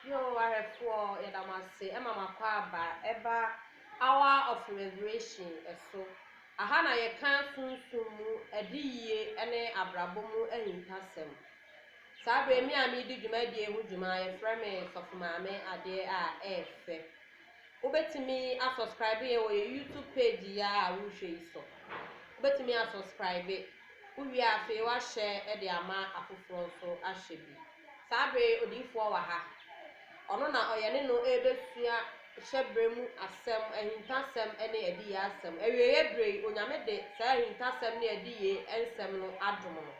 Bio, ahwɛfoɔ, yɛda mo ase ma mo akwaaba ɛba Hour of Revelation so. Aha na yɛka sunsum mu adiyie ne abrabɔ mu ahintasɛm. Saa berɛ yi, me a meredi dwumadie ho dwuma, yɛfrɛ me Sɔfo Maame Adeɛ a ɛyɛ fɛ. Wobɛtumi asɔskraibe yɛn wɔ yɛn YouTube page yi ara a worehwɛ yi so. Wobɛtumi asɔskraibe. Wowie a, afei woahyɛ de ama afoforɔ nso ahwɛ bi. Saa bere yi odiyifoɔ wɔ ha. Ɔno na ɔyɛ ne no rebɛsua hyɛberɛ mu asɛm, ahintasɛm ne adiyie asɛm. Awieeɛ berɛ yi, Onyame de saa ahintasɛm ne adiyie nsɛm no adom no.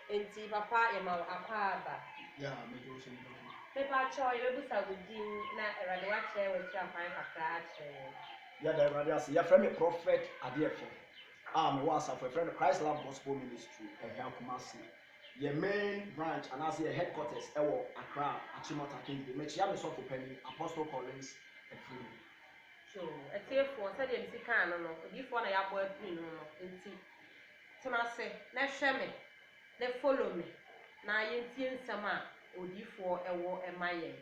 Enti papa yɛma wo akwaaba. Yeah, mede wo som papa. Mepakyɛw, yɛbɛbusa wo din na Awurade wakyerɛ w'akyi akwan kakra akyerɛ yɛn. Yɛda Awurade ase. Yɛfrɛ me Prophet Adeɛfɛ a mewɔ asafo yɛfrɛ no Christ Love Gospel Ministry, Ɛhɛa Kumasi. Yɛn main branch anaase yɛn headquarters wɔ Accra, Achimota, Kingsway. Mekyea me sɔfo panin, Apostle Collins Afrine. So atiefoɔ, sɛdeɛ mesi kaa no no, odiyifoɔ na yɛabɔ apini no no nti, tena ase na hwɛ me na follow me na yɛntie nsɛm a odiyifoɔ wɔ ma yɛn.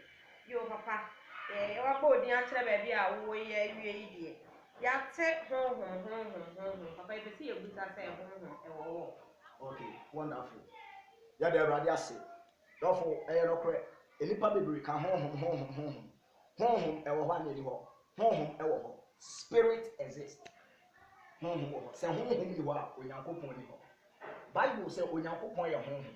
Yoo papa, yɛ wabɔ wo din akyerɛ baabi a wo wɔ yi awie yi deɛ, yɛate honhom, honhom, honhom, papa yɛpɛ sɛ yɛbusa sɛ honhom wɔ hɔ? Okay wonderful yɛda awurade ase dɔfo ɛyɛ nokorɛ nnipa bebree ka honhom honhom honhom honhom ɛwɔ hɔ a na ɛni hɔ honhom ɛwɔ hɔ spirit exist honhom wɔ hɔ sɛ honhom ni hɔ a onyankopɔn ni hɔ bible sɛ onyankopɔn yɛ honhom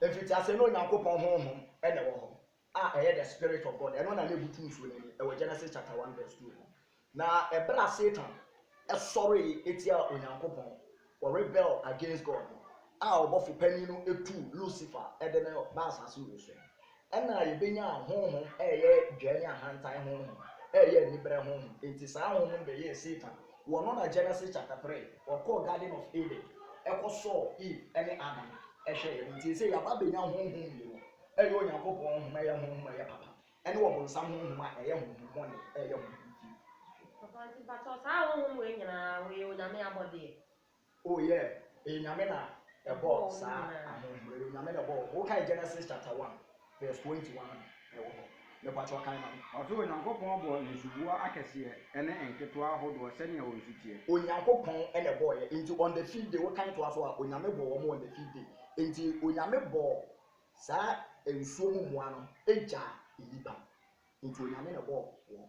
Mfitiaseɛ no Onyankopɔn Honhom na ɛwɔ hɔ a ɛyɛ the spirit of God, ɛno na na ɛbutu nsuo no ani, ɛwɔ Genesis chapter one verse two mu. Na ɛberɛ a Satan sɔree tiaa Onyankopɔn, ɔrebel against God no, a ɔbɔfo panin no tuu Lucifer de no baa asase wɔ so no, Ɛna yɛbɛnya ahonhom a ɛyɛ dwɛɛ ne ahantan honhom, a ɛyɛ aniberɛ honhom. Enti saa ahonhom no bɛyɛɛ Satan. Wɔno na Genesis chapter three, wɔkɔɔ Garden of Eden, kɔsɔɔ Eve ne Adam hwɛeɛ no. Enti seesei yɛaba abɛnya honhom mmienu, ɛyɛ Onyankopɔn honhom a ɛyɛ honhom a ɛyɛ papa, ne ɔbonsam honhom a ɛyɛ honhom bɔne, a ɛyɛ honhom fi. Papa, nti mpakyɛw saa ahonhom wei nyinaa, wɔyɛ Onyame abɔdeɛ? Oh yeah ɛyɛ nyame na ɛbɔɔ saa ahonhom ɛyɛ onyame na ɛbɔɔ wo kae Genesis chapter one verse twenty one no ɛwɔ hɔ mepakyɛw kan ma me. Ɔse Onyankopɔn bɔɔ nsuboa akɛseɛ ɛne nketewa ahodoɔ sɛnea wɔn su teɛ. Onyankopɔn ɛna ɛbɔɔyɛ nti on the fifth day wo kan toa so a onyame bɔɔ wɔn on the fifth day nti onyame bɔɔ saa nsuo mu mmoa no ɛgyaa nnipa nti onyame na ɛbɔɔ wɔn.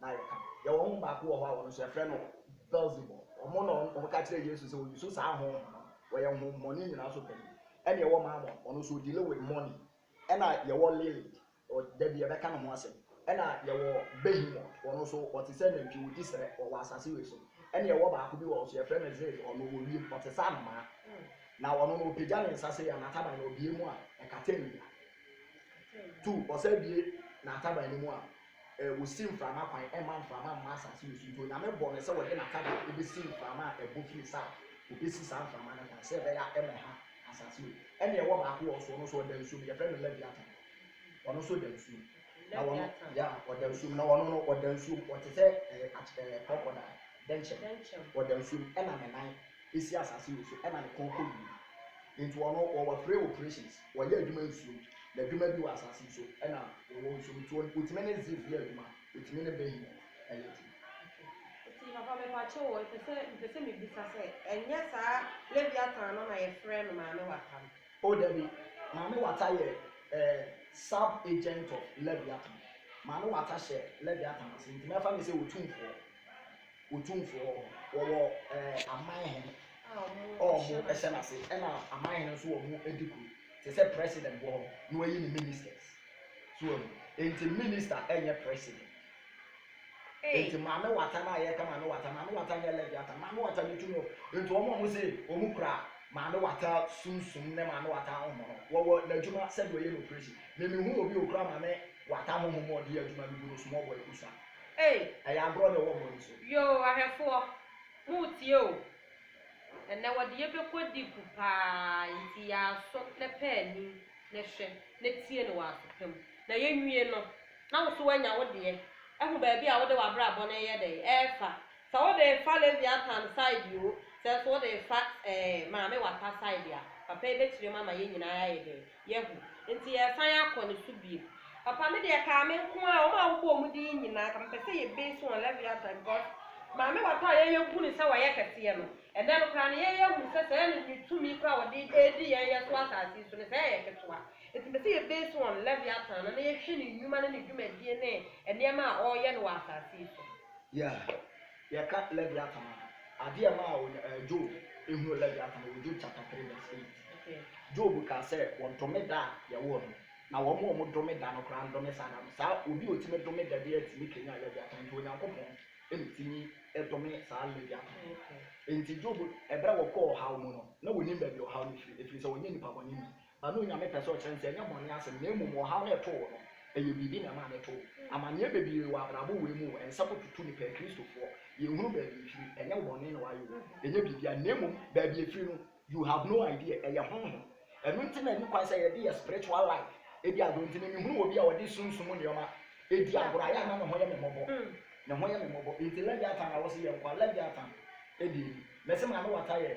na yɛka no. Yɛwɔ honhom baako wɔ hɔ a wɔn nso yɛfrɛ no Beelsebul. Wɔn na wɔka kyerɛɛ Yesu sɛ ɔyi so saa honhom no. Wɔyɛ honhommɔne nyinaa so panin. Ɛnna yɛwɔ Mammon, ɔno nso ɔdeale with money. Ɛnna yɛwɔ Lilith, da bi yɛbɛka ne ho asɛm. Ɛnna yɛwɔ Behemoth, ɔno nso ɔte sɛ nantwi, ɔdi serɛ, ɔwɔ asase wei so. Ɛnna yɛwɔ baako bi wɔ hɔ nso yɛfrɛ no Zeus, ɔno ɔwɔ wiem, ɔte sɛ anomaa. Na ɔno no ɔpagya ne nsa sei a, n'ataban no ɔbue mu a, ɛkata awia. Two, ɔsan bue n'ataban no mu a, Wosi mframa kwan mma mframa mma asase no so nti Onyame bɔɔ no sɛ ɔde n'atadeɛ bɛsi mframa a ɛbɔ firi south, ɔbɛsi saa mframa no kwan sɛ ɛbɛyɛ a ɛmmɛha asase no. Ɛnna ɛwɔ baako wɔ nso, ɔno nso ɔda nsuo mu, yɛfrɛ no Leviathan, ɔno nso da nsuo mu. Na ɔno, Leviathan. yeah, ɔda nsuo mu, na ɔno no ɔda nsuo mu, ɔte sɛ ɛɛ akye ɛɛ crocodile, dɛnkyɛm, Dɛnkyɛm. ɔda nsuo mu, ɛnna ne nan si asase no so, ɛnna ne kɔn kɔ wiem. Nti ɔno, ɔwɔ three operations. Wɔyɛ adwuma nsuom, na adwuma bi wɔ asase so ɛna wɔwɔ nsuom nti wɔtumi ne Ziph yɛ adwuma, wɔtumi ne Behi yɛ adwuma. Eti papa mepakyɛw o epɛ sɛ mepɛ sɛ mebisa sɛ ɛnyɛ saa Leviathan no na yɛfrɛ no Maame Wata no? O dabi, Maame Wata yɛ ɛɛ sub agent of Leviathan, Maame Wata hyɛ Leviathan ase nti mɛfa no sɛ otumfoɔ. Otumfo hɔ. Wɔwɔ aman hen a wɔn hyɛ n'ase ɛna aman hen nso wɔn edi kuro. Te sɛ president wɔ hɔ na wɔayi ne ministers. So wɔn enti minister nyɛ president. Enti Maame Wata no a yɛka Maame Wata, Maame Wata nyɛ Leviathan. Maame Wata ne tumi wɔ enti wɔn a wɔn se wɔn kura Maame Wata sum sum ne Maame Wata ahonhom no wɔwɔ n'adwuma sɛdeɛ ɔyɛ no operation. Me me hu obi a ɔkura Maame Wata mo ho ɔde adwuma no gu no small boy kusa ei ɛyɛ agorɔ na ɛwɔ mo ani so. Yoo ahwɛfoɔ mo retie o ɛnɛ wɔde yɛ bɛkɔ deep paa nti yɛ aso na pɛ anim na hwɛ na tie no wɔ aso pa mu na yɛ nwie no na wo so wanya wo deɛ ahu baabi a wode w'abrabɔ no ɛyɛ dɛn ɛrefa sɛ wode refa Leviathan side oo sɛ nso wode refa ɛɛ maame wata side a papa yi bɛkyerɛ mu ama yɛ nyinaa yɛ ayɛ dɛn Yehu. Enti yɛresan akɔ ne so bio. Papa me deɛ kaa me nko ara wɔn a wobɔ wɔn din yi nyinaa ka mepɛ sɛ yɛ base wɔn Leviathan because maame wata a yɛyɛ hu no sɛ wayɛ kɛseɛ no ɛnɛ no koraa no yɛyɛ hu sɛ sɛɛ no ne tumi koraa wɔde ɛredi yɛn yɛ so asase yi so no sɛɛ yɛ ketewa enti mepɛ sɛ yɛ base wɔn Leviathan no na yɛhwɛ ne nnwuma ne ne dwumadie ne nneɛma a ɔreyɛ no wɔ asase yi so. Yeah. Yɛka Leviathan a, ade a ɛmaa Onya ɛɛ Job hunuu Leviathan wɔ Job chapter three verse eight. Job kaa sɛ wɔdome da a yɛwoo no, na wɔn a wɔdome da no koraa ndome saa da no. Saa obi a otumi dome da biara tumi kanyan Leviathan. Enti Onyankopɔn na tumi dome saa Leviathan no. Enti Job, bere a ɔkɔɔ ɔhaw mu no, na onnim baabi a ɔhaw no firi, efiri sɛ ɔnyɛ nipa bɔneni. Ɛno Onyame pɛ sɛ ɔkyerɛ no sɛ ɛnyɛ bɔne asɛm na mmom ɔhaw no ɛtoo wo no ɛyɛ biribi na ɛmaa no ɛtoo wo. Amaneɛ bebree wɔ abrabɔ wei mu o, ɛnsɛ kɔtutu nipa akristofoɔ, yɛnhunu baabi ɛfiri, ɛnyɛ wo bɔne na wayɛ o, ɛnyɛ biribiara na mmom baabi ɛfiri no you have no idea, ɛyɛ honhom. Ɛno nti na ɛni kwan sɛ yɛde yɛ spiritual life ɛdi agorɔ nti me mehunu obi a ɔde sunsum mu nnoɔma ɛdi agorɔ a yɛ a na ne ho yɛ me mmɔbɔ, ne ho yɛ me mmɔbɔ, nti Leviathan na wose yɛnkoa, Leviathan ɛdeɛ ni, mese maame wata yɛ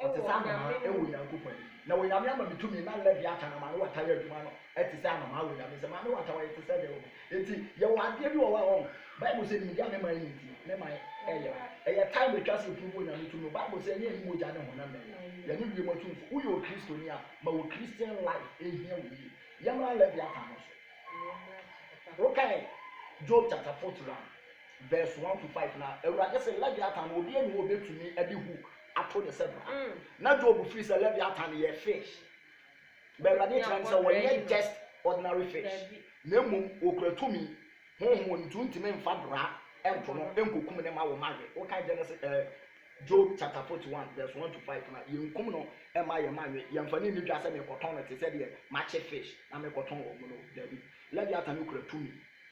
Wɔte sɛ anomaa wɔ Onyankopɔn anim. Na Onyame ama me tumi na Leviatan na Manowata yɛ adwuma no te sɛ anomaa wɔ Onyame nsam. Manowata ɔyɛ te sɛ dɛn wɔ me nti? Yɛwɔ adeɛ bi wɔ hɔ a ɔho Bible sɛ nimdeɛ a me man nni nti me man yera. Ɛyɛ time atwa sɛ ɛpuruvu Onyame tumi no. Bible sɛ ɛnyɛ yɛne mogya ne honam na ɛyɛ. Yɛne wiem atumfoɔ. Woyɛ Okristoni a, ma wo Christian life ɛhia wo yie. Yɛmmra Leviatan no so. Wokae Job chapter 41. Verse one to five, Na Awurade se, Leviatan no, obi nni hɔ a obetumi de hook ato ne sɛ bra. Na Job feel sɛ Leviatan yɛ fish, but Awurade kyerɛ no sɛ wɔnyɛ just ordinary fish, na mmom wokura tumi, honhom wɔ no nti wontumi mfa bra nto no nkokum no mma wo mma we. Wokan Genesis eh, Job chapter forty one verse one to five no a, yenkum no mma yɛn mma nwe, yɛmfa no nni dwa sɛ merekɔtɔn no te sɛ deɛ makye fish na merekɔtɔn wɔn no. Dabi, Leviatan no kura tumi.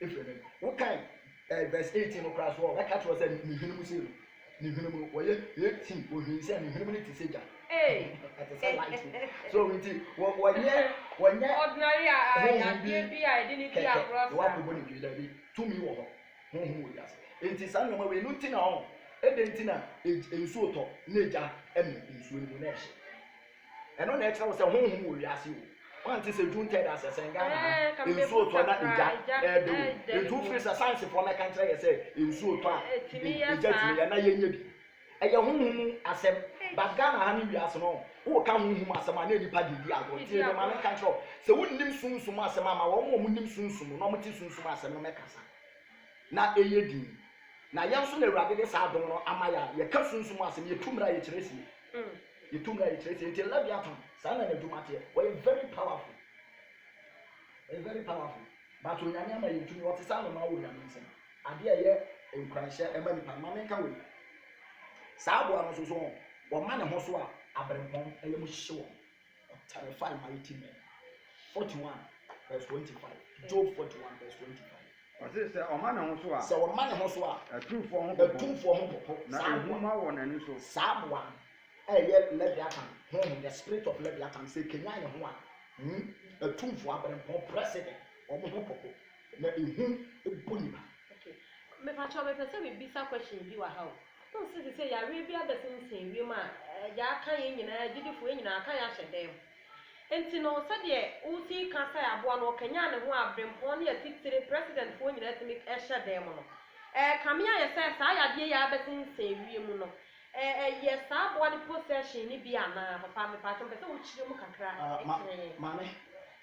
Efiri me wo kan eh verse eighteen no koraa so ɔ bɛ ka kyerɛ wo sɛ ne hwene mu sei no ne hwene mu no wɔ yɛ eighteen wɔ hwene sɛ ne hwene mu no te sɛ gya ɛte sɛ light no so nti wɔ wɔ nyɛ wɔ nyɛ honhom bi kɛkɛ na wakɔ bɔ ne dwee daabi tumi wɔ hɔ honhom wɔ wiase nti saa nneɛma wei no nti na ɔ ɛdɛ nti na nsuo tɔ na gya ɛne nsuo no mu na ɛhye. Ɛno na ɛkyerɛ wo sɛ honhom wɔ wiase o. Woante sɛ June third asɛ sɛn Ghana ha, nsuo tɔ na egya ɛɛdɛ o. Enti wofiri sɛ sayansifoɔ mmɛka nkyerɛ yɛ sɛ nsuo tɔ a egya tumi yɛ na yɛnyɛ bi. Ɛyɛ honhom mu asɛm but Ghana ha ne wiase no woka honhom asɛm a na nnipa de redi agorɔ. Tie me ma menka nkyerɛ wo, sɛ wonnim sunsum asɛm a ma wɔn a wɔnim sunsum na wɔte sunsum asɛm no mmɛkasa na ɛyɛ dinn. Na yɛn nso na Awurade de saa adom no ama yɛn a yɛka sunsum asɛm, yɛtu mmra, yɛkyerɛ sie. Yɛtumi a yɛkyerɛ sɛ nti Leviathan saa na n'adwuma teɛ. Ɔyɛ very powerful. Ɔyɛ very powerful. But Onyame ama yɛn tumi. Ɔte sɛ anomaa wɔ Onyame nsam. Adeɛ a ɛyɛ nkuranhyɛ ma nnipa no, ma menka wei. Saa aboa no nso so wɔn, wɔma ne ho so a, aberempɔn yam hyehye wɔn. Ɔterrify mighty men. 41 verse 25. Job 41 verse 25. Ɔse sɛ ɔma ne ho so a. Sɛ ɔma ne ho so a. Atumfoɔ ho popo. Atumfoɔ ho popo. Na ehu ma wɔ n'ani so. Saa aboa no a ɛyɛ Leviathan, honhom, the spirit of Leviathan, sɛ ɛkanyan ne ho a, hmm, atumfoɔ, abirɛmpɔn, president, wɔn ho popo, na ehu bɔ nnipa. Okay. Mepakyɛw mepɛ sɛ mebisa questions bi wɔ ha o. Wohu sɛ seesei yareɛ bi abɛsensen wiem a, yɛaka yɛn nyinaa, agyidifoɔ, yɛn nyinaa, aka yɛn ahyɛ dan mu. Enti no, sɛdeɛ wosi ka sɛ aboa no ɔkanyan ne ho a brempɔn ne atitire presidentfoɔ nyinaa tumi hyɛ dan mu no, ɛrekame ayɛ sɛ saa yadeɛ yi a abɛsensɛn wiem no, ɛyɛ saa aboa no possession no bi anaa? Papa, mepatwɔ, mepɛ sɛ wokyerɛ mu kakra kyerɛ yɛn. Maame,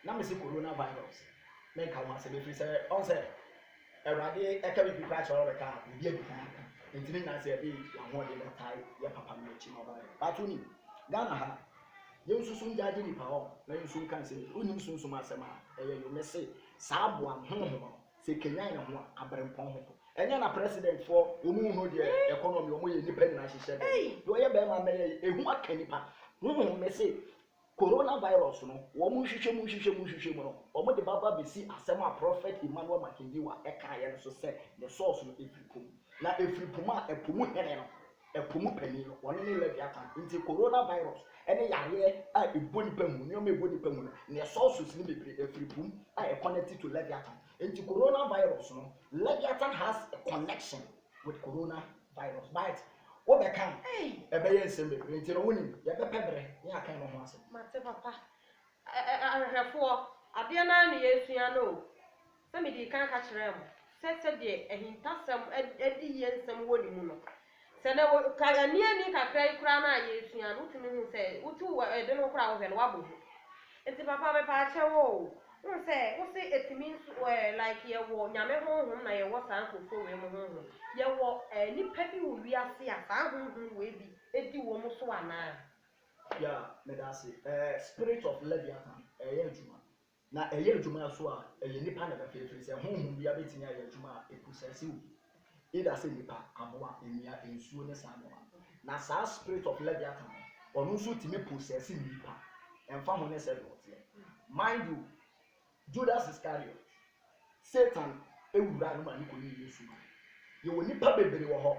na mese corona virus, menka ho asɛm ɛfiri sɛ, ɔhu sɛ, Awurade ka biribi koraa kyerɛ wo a wobɛka a, biribi adi kan aka. Enti ne nyinaa sɛ yɛde yɛn ahoɔden bɛtae yɛ papa no akyi na ɔbaeɛ. But wonim, Ghana ha, Ye nso sum gya agye nnipa hɔ, na ye nso nka nsem eti. Wonnim Sunsum asem a ɛyɛ yo. Mese saa aboa no, honhom no, se ekenyan ne ho a, aberempɔn ho po. Ɛnyɛ na president foɔ wɔn nhunu deɛ economy wɔn yɛ nnipa nyinaa hyehyɛ dɛm. Deɛ ɔyɛ barima mmɛyɛ yi, ehu aka nnipa. Honhom no se Corona virus no, wɔn nhwehwɛ mu nhwehwɛ mu nhwehwɛ mu no, wɔn de ba ba besi asem a Prophet Emmanuel Makindiwa ɛkaeɛ no so sɛ ne source no efiri po mu. Na efiri po mu a, ɛpo mu hene no, Ɛpo mu panin no, ɔno ne Leviathan. Nti Corona virus ne yareɛ a ɛbɔ nipa mu, nneɛma a ɛbɔ nipa mu no, neɛ sources no bebree ɛfiri po mu a ɛ connect to Leviathan. Nti Corona virus no, Leviathan has a connection with Corona virus but wo bɛ ka a, ɛbɛyɛ nsɛm bebree. Nti no wo nim, yɛ bɛ pɛ berɛ na yɛ aka ɛno ho asɛm. Mate papa. Ahwehwɛfoɔ, adeɛ no ara na yɛresua no o. Sɛ medii kan ka kyerɛɛ mo sɛ sɛdeɛ ahintasɛm adiyie nsɛm wɔ ne mu no, sɛ na wɔ, ka, ɛnne ani kakra yi koraa no a yɛresua no, wotumi hu sɛ, wotu wɔ ɛde no koraa a wohwɛ no, woabɔ hu. Nti papa mepaakyɛ wo o, wohu sɛ, wo se ɛtumi nso, ɛɛ, like yɛwɔ Nyame honhom na yɛwɔ saa nkorɔfoɔ wei mo honhom, yɛwɔ, ɛɛ, nnipa bi wɔ wiase a saa honhom wei bi di wɔn so anaa? Yeah, medaase, ɛɛ, spirit of Leviathan ɛɛyɛ adwuma. Na ɛyɛ adwuma nso a, ɛyɛ nnipa na ɛbɛfa ɛfiri sɛ honhom biara bɛtumi ayɛ adwuma a ɛposɛse obi, either sɛ nnipa, aboa, nnua, nsuo ne saa nneɛma no. Na saa spirit of Leviathan no, ɔno nso tumi posɛse nnipa, ɛmfa ho ne sɛdeɛ ɔteɛ. Mind you, Judas Iscariot, Satan wuraa no ma no kɔyii Yesu mae. Yɛwɔ nnipa bebree wɔ hɔ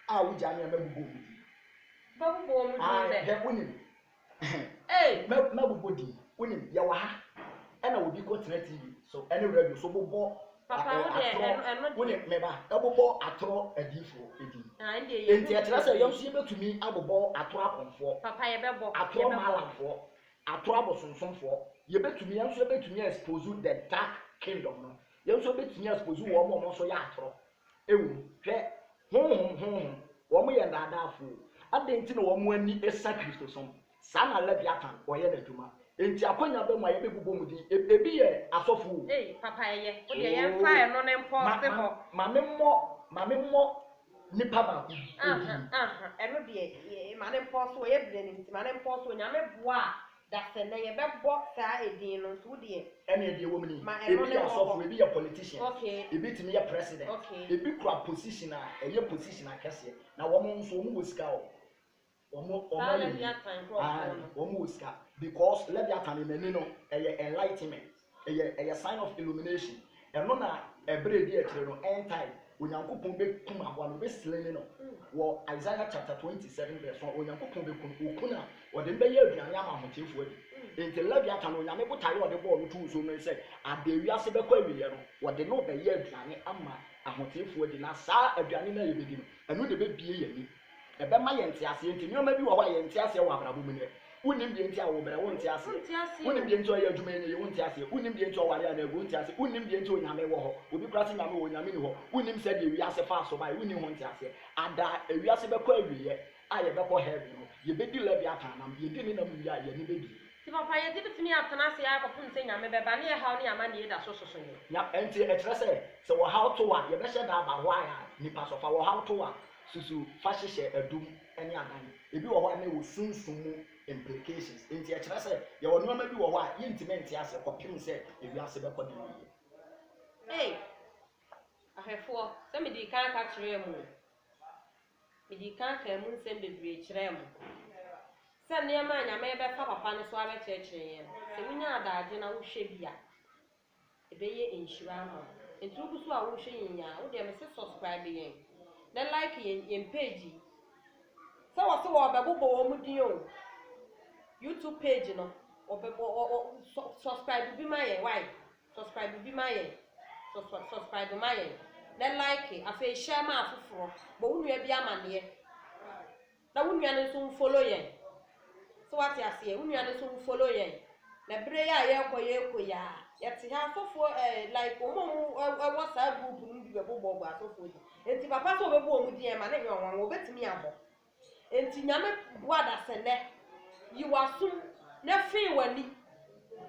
a wogyaa nneɛma bobɔɔ mu din. Bɛbobɔɔ mu din Ae, dɛn? hwɛ, wonim, Ei! Mɛ, mɛbobɔ din. Wonim, yɛwɔ ha, ɛna obi kɔ tena TV so ɛne radio so bobɔ a, ɛ, atorɔ, wonim, me ba, ɛbobɔ atorɔ adiyifoɔ din. Enti ɛkyerɛ sɛ yɛn nso yɛbɛtumi abobɔ atorɔ akɔmfoɔ, atorɔ maalamfoɔ, atorɔ abosonsomfoɔ. Yɛbɛtumi, yɛn nso yɛbɛtumi a expose the dark kingdom no. Yɛn nso yɛbɛtumi a expose wɔn a wɔn nso yɛ atorɔ. Ewu. Hwɛ! Honhom, honhom, wɔn yɛ nnaadaafo o! Adɛn nti na wɔn ani sa Kristosom? Saa na Leviatan ɔyɛ n'adwuma. Enti akwannya bɛn mu a yɛbɛbobɔ mu din? E, ebi yɛ asɔfo o. Ei, papa, ɛyɛ. Wo deɛ, yɛmfa Oo, ɛno no mpo ma, nsi ma, hɔ. ma memmɔ, ma memmɔ nipa baako bi Aha, din. aha, ɛno deɛ, ma no mpo nsi hɔ, yɛbrɛ no nti, ma no mpo nsi hɔ. Nyame boa a, Dasɛ, na yɛbɛbɔ saa edin no nso, wo deɛ. Ɛneɛ deɛ ɛwom ni, ebi yɛ asɔfo, ebi yɛ politician, ebi tumi yɛ president, ebi kura position a ɛyɛ position akɛseɛ, na wɔn nso wɔn wɔ sika o, wɔn wɔn ayɛ yie, aane wɔn wɔ sika, because Leviathan no n'ani no ɛyɛ enlightenment. Ɛyɛ, ɛyɛ sign of illumination. Ɛno na ɛberɛ ɛdi akyire no, end time, Onyankopɔn bɛkum aboa no, ɔbɛ slayne no. Wɔ Isaiah chapter 27 verse 1, Onyankopɔn bɛku no, ɔku no a, ɔde no bɛyɛ aduane ama ahotiefoɔ adi. Enti Leviathan no, Onyame botaeɛ a ɔde bɔɔ no too nsuo mu no ne sɛ, adeɛ wiase bɛkɔ awieɛ no, wɔde no rebɛyɛ aduane ama ahotiefoɔ adi, na saa aduane no a yɛbɛdi no, ɛno na ɛbɛbue yɛn ani. Ɛbɛma yɛn nteaseɛ nti nneɛma bi wɔ hɔ a yɛn nteaseɛ wɔ abrabɔ mu nnɛ. Wonim deɛ nti a wo brɛ, wo nteaseɛ. Wonim deɛ nti a ɔyɛ adwuma ɛnyɛ yie, wo nteaseɛ. Wonim deɛ nti a ɔware anaa agu, wo nteaseɛ. Wonim deɛ nti onyame wɔ hɔ, obi koraa se nyame wɔ hɔ, onyame nni hɔ. Wonim sɛdeɛ wiase faa so baeɛ, wonni ho nteaseɛ. Ada a wiase bɛkɔ awieɛ a yɛbɛkɔ heaven no, yɛbɛdi Leviathan nam, yɛdi ne nam wie a yɛn ani bɛbie. Nti papa yɛde bɛtumi atena ase ara kɔpem sɛ nyame bɛba ne ɛhaw ne amanneɛ da so soso yɛn. Nya, ɛnti ɛkyerɛ sɛ sɛ ɔhaw to wo a yɛbɛhyɛ da aba hɔ a a nipa sɔfa, ɔhaw to wo a Susu fa hyehyɛ adum ne adan. Ebi wɔ hɔ a na ɛwɔ sunsum mu implications. Enti ɛkyerɛ sɛ yɛwɔ nneɛma bi wɔ hɔ a yentumi nte ase kɔpem sɛ ewiase bɛkɔ ne yiye. Ei, ahwɛfoɔ, sɛ medii kan ka kyerɛɛ mo o, medii kan kaa emu nsɛm bebree kyerɛɛ mo, sɛ nneɛma a Nyame rebɛfa papa no so abɛkyerɛkyerɛ yɛn no, sɛ wonya adagye na wohwɛ bi a, Ɛbɛyɛ nhyira ama wo. Nti wo gu so a wo rehwɛ yɛn yi a wo deɛ me se subscribe yɛn na like yɛn yɛn page yi. Sɛ wɔ se wɔ bɛ bobɔ wɔ mo din o. YouTube page no wɔ bɛ bɔ wɔ wɔ subscribe bi ma yɛn why subscribe bi ma yɛn subscribe ma yɛn na like afei share ma afoforɔ bɔ wo nua bi amaneɛ. Na wo nua no nso nfollow yɛn. So wate aseɛ? Wo nua no nso nfollow yɛn. Na bere yi a yɛrekɔ yɛrekɔ yi ara, yɛte ha, asɔfoɔ eh, like wɔn a wɔwɔ saa group no mu bi bɛbobɔɔbɔ asɔfoɔ din. Enti papa sɛ ɔbɛbɔ wɔn din ɛma no nyɛ ɔnwanwa, ɔbɛtumi abɔ. Enti Nyame boa adasɛnnɛ, yi w'asom na fee w'ani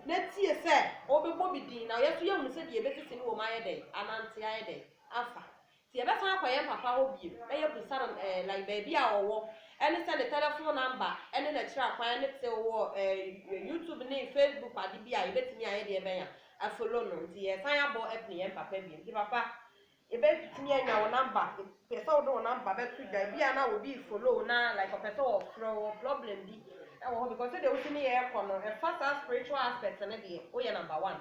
na tie sɛ ɔbɛbɔ bi din, na yɛn nso yɛahu sɛdeɛ yɛbɛsisi no wɔ mu ayɛ dɛn? Anante ayɛ dɛn? Afa. Sɛ yɛbɛsan akɔ yɛn papa hɔ bio na yɛahu Saron eh, like baabi a ɔwɔ, ɛne sɛ ne tɛlɛfon namba ɛne n'akyira kwan ne te wɔ eh, YouTube ne Facebook ade bi a yɛbɛtumi ayɛ deɛ bɛn a afolo no. Nti yɛresan abɔ apini yɛn papa bio. Nti papa, yɛbɛtumi anya wo namba? Yɛpɛ sɛ wode wo namba bɛto dwa. Ebi a na obi refolo wo na like ɔpɛ sɛ ɔfrɛ wo, ɔwɔ problem bi ɛwɔ hɔ because sɛdeɛ wosi ne yɛn rekɔ no, ɛfa saa spiritual aspect no deɛ, woyɛ namba one.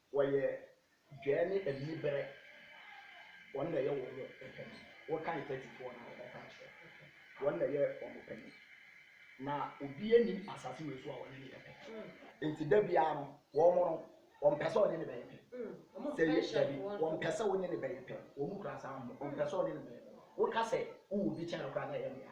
Wɔyɛ dwɛɛ ne aniberɛ, wɔn na ɛyɛ wɔn pɛn. Wokan Ketifoɔ no a, wobɛka akyerɛ wɔn. Wɔn na ɛyɛ wɔn pɛn. Na obiara nnim asase wei so a ɔne no yɛ pɛ. Enti da biara no, wɔn no, wɔmpɛ sɛ wɔne no bɛyɛ pɛ. Sɛ ɛyɛ, dabi, wɔmpɛ sɛ wone no bɛyɛ pɛ. Wɔn kura saa ho, wɔmpɛ sɛ wɔne no bɛyɛ pɛ. Woka sɛ wowɔ obi kyɛn no koraa na ɛyɛ nea.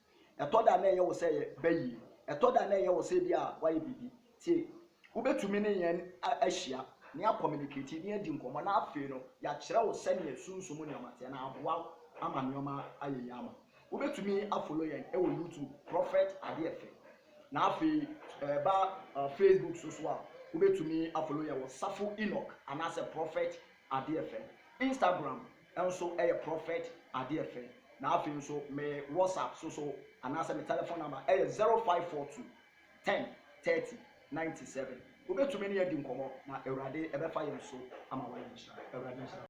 Ɛtɔ da a na ɛyɛ wo sɛ yɛba yie. Ɛtɔ da a na ɛyɛ wo sɛ ebia woayɛ biribi. Tie, wobɛtumi ne yɛn ahyia na yɛakɔminiketi na yɛadi nkɔmmɔ na afei no yɛakyerɛ wo sɛdeɛ sunsum mu nneɛma teɛ na aboa wo ama nneɛma ayɛ yie ama wo. Wobɛtumi afolo yɛn wɔ YouTube, Prophet Adeɛfɛ. Na afei ɛba Facebook so so a, wobɛtumi afolo yɛn wɔ Safo Enoch anaasɛ Prophet Adeɛfɛ. Instagram, nso yɛ prophet adeɛ fɛ na afei nso me WhatsApp so so anaasɛ me telephone number yɛ zero five four two ten thirty ninety seven wobɛtumi ne yɛn adi nkɔmmɔ na awurade bɛfa yɛn so ama wayɛ nhyira awurade nhyira wo.